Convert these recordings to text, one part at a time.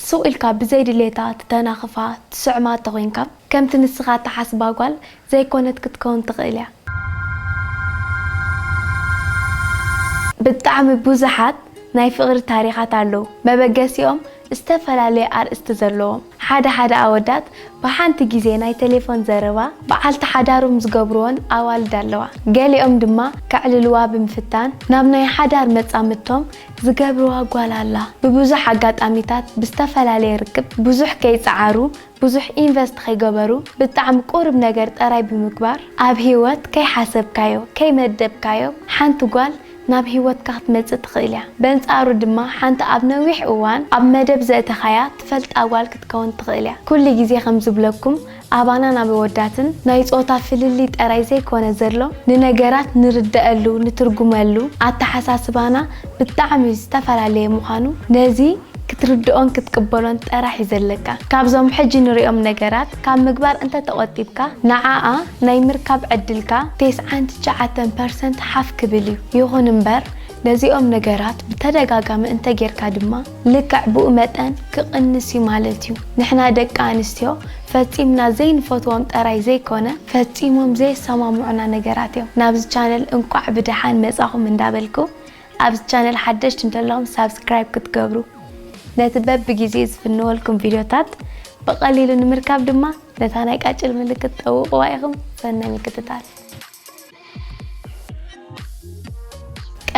ሱቕ ኢልካ ብዘይ ድሌታ ትተናኽፋ ትስዕማ ተኾይንካ ከምቲ ንስኻ ትሓስባ ጓል ዘይኮነት ክትከውን ትኽእል እያ። ብጣዕሚ ብዙሓት ናይ ፍቕሪ ታሪኻት ኣለዉ መበገሲኦም ዝተፈላለየ ኣርእስቲ ዘለዎም። ሓደ ሓደ ኣወዳት ብሓንቲ ግዜ ናይ ተሌፎን ዘረባ ብዓልቲ ሓዳሮም ዝገብርወን ኣዋልድ ኣለዋ። ገሊኦም ድማ ከዕልልዋ ብምፍታን ናብ ናይ ሓዳር መጻምድቶም ዝገብርዋ ጓል ኣላ ብብዙሕ ኣጋጣሚታት ብዝተፈላለየ ርክብ ብዙሕ ከይጸዓሩ ብዙሕ ኢንቨስት ኸይገበሩ ብጣዕሚ ቁሩብ ነገር ጠራይ ብምግባር ኣብ ሂወት ከይሓሰብካዮ ከይመደብካዮ ሓንቲ ጓል ናብ ሂወትካ ክትመጽእ ትኽእል እያ በንጻሩ ድማ ሓንቲ ኣብ ነዊሕ እዋን ኣብ መደብ ዘእተኻያ ትፈልጣ ጓል ክትከውን ትኽእል እያ ኩሉ ግዜ ከም ዝብለኩም ኣባናን ኣብ ኣወዳትን ናይ ጾታ ፍልልይ ጠራይ ዘይኮነ ዘሎ ንነገራት ንርደኣሉ ንትርጉመሉ ኣተሓሳስባና ብጣዕሚ ዝተፈላለየ ምዃኑ ነዚ ክትርድኦን ክትቅበሎን ጠራሕ እዩ ዘለካ ካብዞም ሕጂ ንሪኦም ነገራት ካብ ምግባር እንተተቆጢብካ ንዓኣ ናይ ምርካብ ዕድልካ ቴስዓን ትሽዓተን ፐርሰንት ሓፍ ክብል እዩ ይኹን እምበር ነዚኦም ነገራት ብተደጋጋሚ እንተጌርካ ድማ ልክዕ ብኡ መጠን ክቕንስ እዩ ማለት እዩ። ንሕና ደቂ ኣንስትዮ ፈጺምና ዘይንፈትዎም ጠራይ ዘይኮነ ፈጺሞም ዘየሰማምዑና ነገራት እዮም። ናብዚ ቻነል እንቋዕ ብደሓን መጻኹም እንዳበልኩ ኣብዚ ቻነል ሓደሽቲ እንተለኹም ሳብስክራይብ ክትገብሩ ነቲ በብጊዜኡ ዝፍንወልኩም ቪድዮታት ብቐሊሉ ንምርካብ ድማ ነታ ናይ ቃጭል ምልክት ጠውቕዋ ኢኹም። ሰናይ ምክትታል።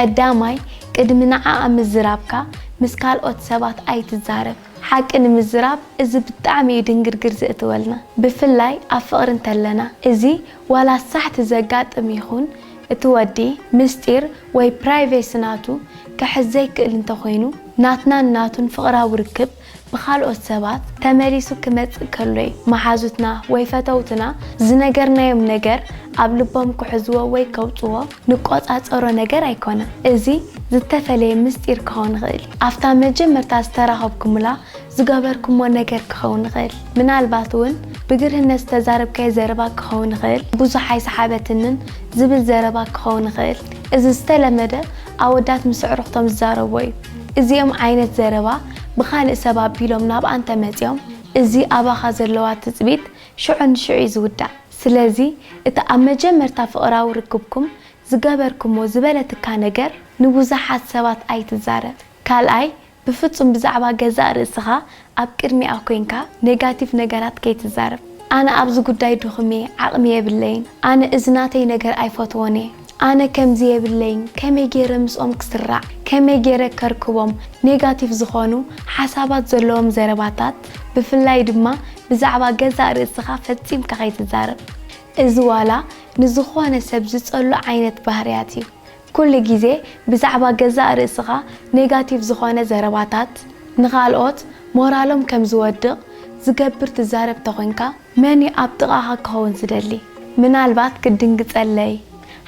ቀዳማይ ቅድሚ ንዓኣ ምዝራብካ ምስ ካልኦት ሰባት ኣይትዛረብ። ሓቂ ንምዝራብ እዚ ብጣዕሚ እዩ ድንግርግር ዘእትወልና ብፍላይ ኣብ ፍቅሪ እንተለና እዚ ዋላ ሳሕቲ ዘጋጥም ይኩን እቲ ወዲ ምስጢር ወይ ፕራይቬሲ ናቱ ክሕዝ ዘይክእል እንተኮይኑ ናትናን ናቱን ፍቅራዊ ርክብ ብኻልኦት ሰባት ተመሊሱ ክመጽእ ከሎ'ዩ። መሓዙትና ወይ ፈተውትና ዝነገርናዮም ነገር ኣብ ልቦም ክሕዝዎ ወይ ከውጽዎ ንቆጻጸሮ ነገር ኣይኮነን። እዚ ዝተፈለየ ምስጢር ክኸውን ይኽእል እዩ። ኣብታ መጀመርታ ዝተራኸብኩምላ ዝገበርኩሞ ነገር ክኸውን ይኽእል። ምናልባት'ውን ብግርህነት ዝተዛረብካዮ ዘረባ ክኸውን ይኽእል። ብዙሕ ኣይሰሓበትንን ዝብል ዘረባ ክኸውን ይኽእል። እዚ ዝተለመደ ኣወዳት ምስ ኣዕሩኽቶም ዝዛረብዎ እዩ። እዚኦም ዓይነት ዘረባ ብኻልእ ሰብ ኣቢሎም ናብኣ እንተመጺኦም፣ እዚ ኣባኻ ዘለዋ ትጽቢት ሽዑ ንሽዑ'ዩ ዝውዳእ። ስለዚ እቲ ኣብ መጀመርታ ፍቕራዊ ርክብኩም ዝገበርኩሞ ዝበለትካ ነገር ንብዙሓት ሰባት ኣይትዛረብ። ካልኣይ፣ ብፍጹም ብዛዕባ ገዛእ ርእስኻ ኣብ ቅድሚኣ ኮይንካ ኔጋቲቭ ነገራት ከይትዛረብ። ኣነ ኣብዚ ጉዳይ ድኹም'የ፣ ዓቕሚ የብለይን፣ ኣነ እዚ ናተይ ነገር ኣይፈትዎን'የ። ኣነ ከምዚ የብለይን ከመይ ጌረ ምስኦም ክስራዕ ከመይ ጌረ ከርክቦም ኔጋቲቭ ዝኾኑ ሓሳባት ዘለዎም ዘረባታት ብፍላይ ድማ ብዛዕባ ገዛእ ርእስኻ ፈጺምካ ከይትዛረብ እዚ ዋላ ንዝኾነ ሰብ ዝጸሉ ዓይነት ባህርያት እዩ ኩሉ ግዜ ብዛዕባ ገዛእ ርእስኻ ኔጋቲቭ ዝኾነ ዘረባታት ንኻልኦት ሞራሎም ከም ዝወድቕ ዝገብር ትዛረብ ተኾንካ መን'ዩ ኣብ ጥቓኻ ክኸውን ዝደሊ? ምናልባት ክትድንግጸለይ፣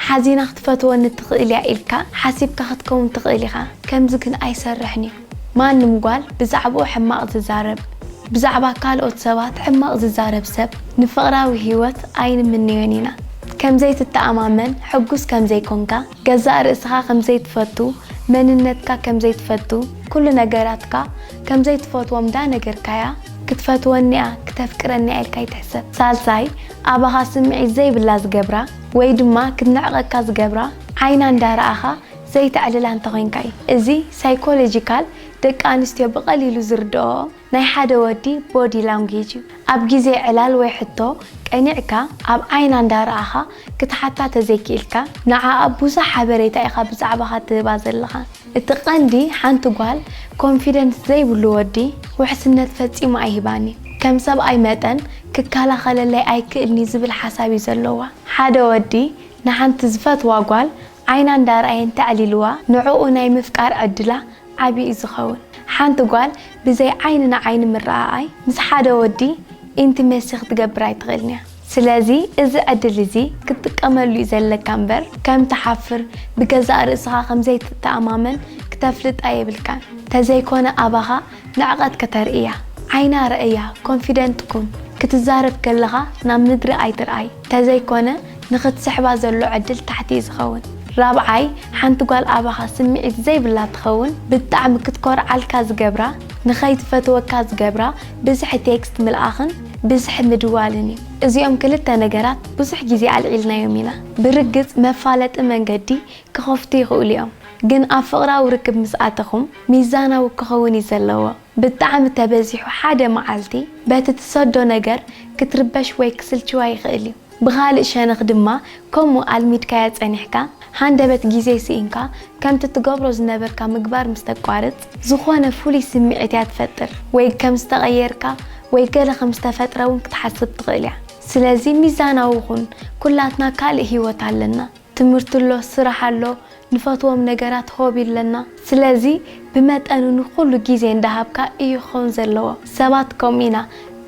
ሓዚና ክትፈትወኒ ትኽእል'ያ ኢልካ ሓሲብካ ክትከውን ትኽእል ኢኻ። ከምዚ ግን ኣይሰርሕን'ዩ። ማንም ጓል ብዛዕባኡ ሕማቕ ዝዛረብ፣ ብዛዕባ ካልኦት ሰባት ሕማቕ ዝዛረብ ሰብ ንፍቕራዊ ህይወት ኣይንምነዮን ኢና። ከም ዘይትተኣማመን፣ ሕጉስ ከም ዘይኮንካ፣ ገዛእ ርእስኻ ከም ዘይትፈቱ፣ መንነትካ ከም ዘይትፈቱ፣ ኩሉ ነገራትካ ከምዘይትፈትዎም ዳ ነገርካያ ክትፈትወኒ'ያ ክተፍቅረኒ'ያ ኢልካ ኣይትሕሰብ ሳልሳይ ኣባኻ ስምዒት ዘይብላ ዝገብራ ወይ ድማ ክትንዕቀካ ዝገብራ ዓይና እንዳ ረኣኻ ዘይተዕልላ እንተ ኮንካ እዩ እዚ ሳይኮሎጂካል ደቂ ኣንስትዮ ብቀሊሉ ዝርደኦኦም ናይ ሓደ ወዲ ቦዲ ላንጉጅ እዩ ኣብ ግዜ ዕላል ወይ ሕቶ ቀኒዕካ ኣብ ዓይና እንዳ ረኣኻ ክትሓታ ተዘይኪኢልካ ንዓኣ ቡዙሕ ሓበሬታ ኢኻ ብዛዕባኻ ትህባ ዘለኻ እቲ ቀንዲ ሓንቲ ጓል ኮንፊደንስ ዘይብሉ ወዲ ውሕስነት ፈጺሙ ኣይህባን እዩ ከም ሰብኣይ መጠን ክካላኸለለይ ኣይክእልንዩ ዝብል ሓሳብ እዩ ዘለዋ ሓደ ወዲ ንሓንቲ ዝፈትዋ ጓል ዓይና እንዳርኣየ እንተዕሊልዋ ንዕኡ ናይ ምፍቃር ዕድላ ዓቢ እዩ ዝኸውን። ሓንቲ ጓል ብዘይ ዓይኒ ንዓይኒ ምርኣኣይ ምስ ሓደ ወዲ ኢንቲመሲ ክትገብር ኣይትኽእልን እያ። ስለዚ እዚ ዕድል እዚ ክትጥቀመሉ እዩ ዘለካ እምበር ከም ትሓፍር ብገዛእ ርእስኻ ከም ዘይትተኣማመን ክተፍልጣ የብልካን። ተዘይኮነ ኣባኻ ንዕቐት ከተርእያ። ዓይና ርኣያ፣ ኮንፊደንት ኩን። ክትዛረብ ከለኻ ናብ ምድሪ ኣይትርኣይ። ተዘይኮነ ንክትስሕባ ዘሎ ዕድል ታሕቲ እዩ ዝኸውን። ራብዓይ፣ ሓንቲ ጓል ኣባኻ ስምዒት ዘይብላ ትኸውን፣ ብጣዕሚ ክትኮርዓልካ ዝገብራ፣ ንኸይትፈትወካ ዝገብራ ብዝሒ ቴክስት ምልኣኽን ብዝሒ ምድዋልን እዩ። እዚኦም ክልተ ነገራት ብዙሕ ግዜ ኣልዒልናዮም ኢና። ብርግጽ መፋለጢ መንገዲ ክኸፍቱ ይኽእሉ እዮም፣ ግን ኣብ ፍቕራዊ ርክብ ምስ ኣተኹም ሚዛናዊ ክኸውን እዩ ዘለዎ። ብጣዕሚ ተበዚሑ ሓደ መዓልቲ በቲ ትሰዶ ነገር ክትርበሽ ወይ ክስልችዋ ይኽእል እዩ። ብኻልእ ሸነኽ ድማ ከምኡ ኣልሚድካያ ጸኒሕካ ሃንደበት ግዜ ስኢንካ ከምቲ ትገብሮ ዝነበርካ ምግባር ምስ ተቋርጽ ዝኾነ ፍሉይ ስምዒት እያ ትፈጥር ወይ ከም ዝተቐየርካ ወይ ገለ ከም ዝተፈጥረ እውን ክትሓስብ ትኽእል እያ። ስለዚ ሚዛናዊ ኩን ኩላትና ካልእ ህይወት ኣለና። ትምህርቲ ኣሎ ስራሕ ኣሎ ንፈትዎም ነገራት ሆብ ኢለና። ስለዚ ብመጠኑ ንኹሉ ግዜ እንዳሃብካ ኢዩ ክኸውን ዘለዎ። ሰባት ከምኡ ኢና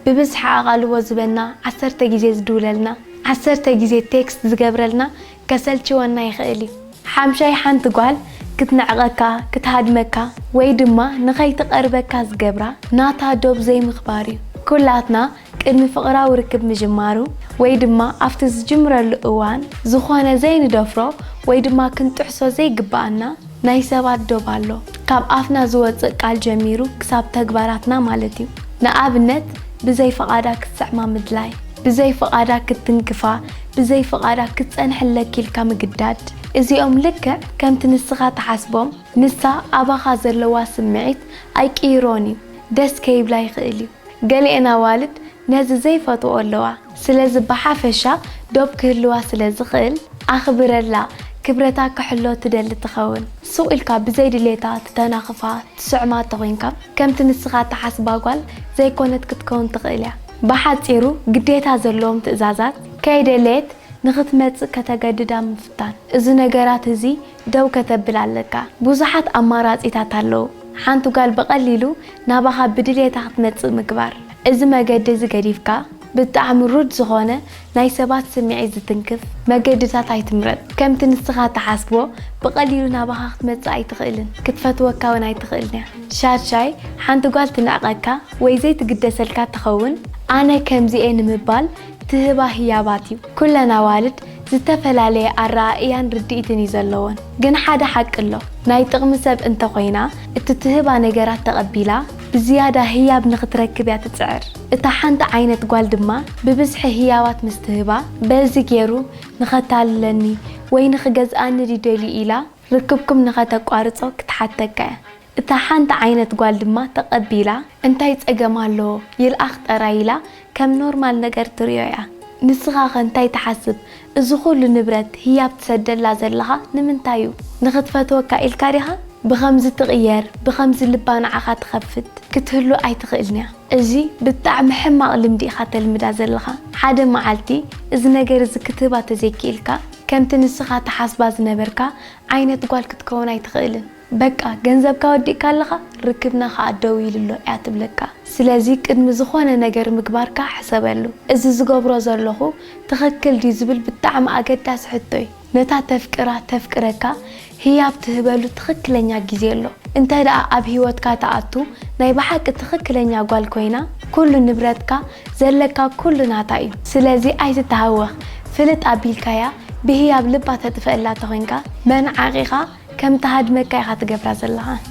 ብብዝሒ ኣቓልቦ ዝበና ዓሰርተ ግዜ ዝድውለልና ዓሰርተ ግዜ ቴክስት ዝገብረልና ከሰልችወና ይኽእል ኢዩ። ሓምሻይ ሓንቲ ጓል ክትንዕቐካ ክትሃድመካ ወይ ድማ ንኸይትቐርበካ ዝገብራ ናታ ዶብ ዘይምኽባር ኢዩ። ኩላትና ቅድሚ ፍቕራዊ ርክብ ምጅማሩ ወይ ድማ ኣብቲ ዝጅምረሉ እዋን ዝኾነ ዘይንደፍሮ ወይ ድማ ክንጥሕሶ ዘይግበኣና ናይ ሰባት ዶብ ኣሎ። ካብ ኣፍና ዝወጽእ ቃል ጀሚሩ ክሳብ ተግባራትና ማለት እዩ። ንኣብነት ብዘይ ፍቓዳ ክትስዕማ ምድላይ፣ ብዘይ ፍቓዳ ክትትንክፋ፣ ብዘይ ፍቓዳ ክትጸንሕለኪ ኢልካ ምግዳድ። እዚኦም ልክዕ ከምቲ ንስኻ ትሓስቦም ንሳ ኣባኻ ዘለዋ ስምዒት ኣይቅይሮን እዩ። ደስ ከይብላ ይኽእል እዩ። ገሊኤን ኣዋልድ ነዚ ዘይፈትወኦ ኣለዋ ስለዚ ብሓፈሻ ዶብ ክህልዋ ስለ ዝኽእል ኣኽብረላ ክብረታ ክሕሎ ትደሊ ትኸውን ሱቕ ኢልካ ብዘይ ድሌታ ትተናኽፋ ትስዕማ ተኾይንካ ከምቲ ንስኻ ትሓስባ ጓል ዘይኮነት ክትከውን ትኽእል እያ ብሓጺሩ ግዴታ ዘለዎም ትእዛዛት ከይደለየት ንኽትመጽእ ከተገድዳ ምፍታን እዚ ነገራት እዚ ደው ከተብል ኣለካ ብዙሓት ኣማራጺታት ኣለዉ ሓንቲ ጓል ብቀሊሉ ናባኻ ብድልየታ ክትመጽእ ምግባር እዚ መገዲ እዚ ገዲፍካ ብጣዕሚ ሩድ ዝኾነ ናይ ሰባት ስሚዒት ዝትንክፍ መገድታት ኣይትምረጽ ከምቲ ንስኻ ትሓስቦ ብቀሊሉ ናባኻ ክትመጽእ ኣይትኽእልን ክትፈትወካ ውን ኣይትኽእልንያ ሻድሻይ ሓንቲ ጓል ትንዕቀካ ወይ ዘይትግደሰልካ ትኸውን ኣነ ከምዚ እየ ንምባል ትህባ ህያባት እዩ። ኩለን ኣዋልድ ዝተፈላለየ ኣረኣእያን ርድኢትን እዩ ዘለወን። ግን ሓደ ሓቂ ኣሎ፣ ናይ ጥቕሚ ሰብ እንተ ኾይና፣ እቲ ትህባ ነገራት ተቐቢላ ብዝያዳ ህያብ ንኽትረክብ እያ ትጽዕር። እታ ሓንቲ ዓይነት ጓል ድማ ብብዝሒ ህያባት ምስ ትህባ፣ በዚ ገይሩ ንኸታልለኒ ወይ ንኽገዝኣኒ ድዩ ደልዩ ኢላ ርክብኩም ንኸተቋርጾ ክትሓተካ እያ። እታ ሓንቲ ዓይነት ጓል ድማ ተቐቢላ እንታይ ጸገም ኣለዎ ይልኣኽ ጠራይ ኢላ ከም ኖርማል ነገር ትሪኦ እያ። ንስኻ ከ እንታይ ትሓስብ እዚ ኩሉ ንብረት ህያብ ትሰደላ ዘለኻ ንምንታይ እዩ? ንኽትፈትወካ ኢልካ ዲኻ? ብኸምዚ ትቕየር ብኸምዚ ልባ ንዓኻ ትኸፍት ክትህሉ ኣይትኽእልን እያ። እዚ ብጣዕሚ ሕማቕ ልምዲ ኢኻ ተልምዳ ዘለኻ። ሓደ መዓልቲ እዚ ነገር እዚ ክትህባ ተዘይኪኢልካ ከምቲ ንስኻ ትሓስባ ዝነበርካ ዓይነት ጓል ክትከውን ኣይትኽእልን። በቃ ገንዘብካ ወዲእካ ኣለኻ ርክብና ከኣ ደው ኢሉ ኣሎ እያ ትብለካ ስለዚ ቅድሚ ዝኾነ ነገር ምግባርካ ሕሰበሉ እዚ ዝገብሮ ዘለኹ ትኽክል ድዩ ዝብል ብጣዕሚ ኣገዳሲ ሕቶ እዩ ነታ ተፍቅራ ተፍቅረካ ህያብ ትህበሉ ትኽክለኛ ግዜ ኣሎ እንተ ደኣ ኣብ ሂወትካ ትኣቱ ናይ ብሓቂ ትኽክለኛ ጓል ኮይና ኩሉ ንብረትካ ዘለካ ኩሉ ናታ እዩ ስለዚ ኣይትተሃወኽ ፍልጥ ኣቢልካያ ብህያብ ልባ ተጥፍእላ ተኾይንካ መን ዓቂኻ ከም ትሃድመካ ኢኻ ትገብራ ዘለኻ።